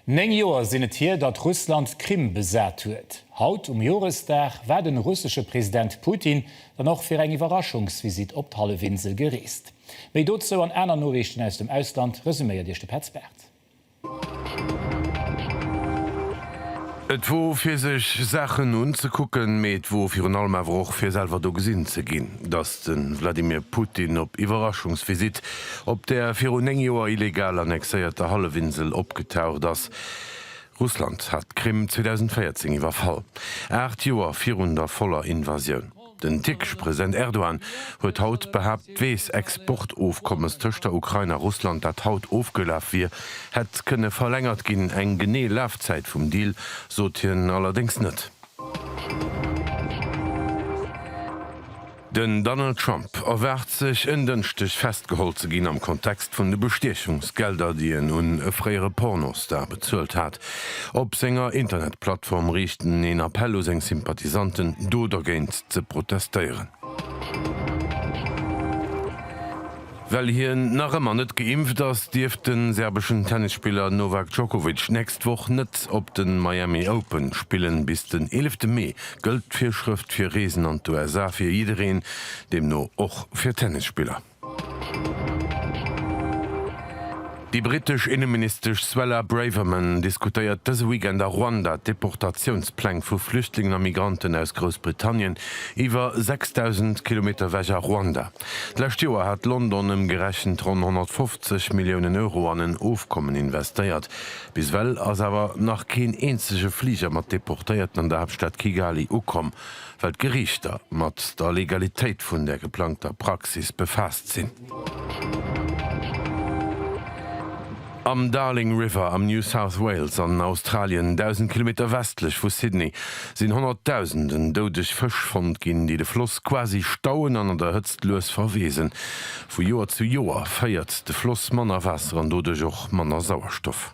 Néng Joer sinn et hier, datt Russland d'Krim besat huet. Haut um Joresdag war de russesche President Putin dann och fir eng Iwwerraschungsvisitt op d'Hallefinsel gereest. Méi dozou an aner Noriichten aus dem Ausland resuméiert Iech de Petz Barth. Et wor fir sech Saachen unzekucken, mee et wor virun allem awer och fir selwer do gesinn ze ginn, datt de Wladimir Putin op Iwwerraschungsvisitt Op der virun 9 Joer illegal annexéierter Hallefinsel opgetaucht ass. Russland hat d'Krim 2014 iwwerfall, aacht Joer virun der voller Invasioun. Den tierkesche President Erdogan huet haut behaapt, d'Weess-Exportofkommes tëscht der Ukrain a Russland, dat haut ofgelaf wier, hätt kënne verlängert ginn. Eng genee Lafzäit vum Deal sot hien allerdéngs net. Den Donald Trump erwaart sech en Dënschdeg festgeholl ze ginn am Kontext vun de Bestiechungsgelder, déi en un e fréiere Pornostar bezuelt hat. Op senger Internetplattform riicht en een Appell u seng Sympathisanten, do dergéint ze protestéieren. Well hien nach ëmmer net geimpft ass, dierft de serbeschen Tennisspiller Novak Djokovic d'nächst Woch net op de Miami Open spillen. Bis den eelefte Mee gëllt d'Virschrëft fir Reesen an d'USA fir jiddereen, deemno och fir Tennisspiller. Déi brittesch Inneministesch Suella Braverman diskutéiert dëse Weekend a Ruanda d'Deportatiounspläng vu Flüchtlingen a Migranten aus Groussbritannien iwwer 6.000 Kilometer ewech a Ruanda. D'lescht Joer hat London ëmgerechent ronn 150 Milliounen Euro an en Ofkommen investéiert. Bis ewell ass awer nach keen eenzege Fliger mat Deportéierten an der Haaptstad Kigali ukomm, well d'Geriichter mat der Legalitéit vun der geplangter Praxis befaasst sinn. Am Darling River am New South Wales an Australien, 1.000 Kilometer westlech vu Sydney, sinn Honnertdausenden doudeg Fësch fonnt ginn, déi de Floss quasi stauen an an der Hëtzt lues verweesen. Vu Joer zu Joer féiert de Floss manner Waasser an doduerch och manner Sauerstoff.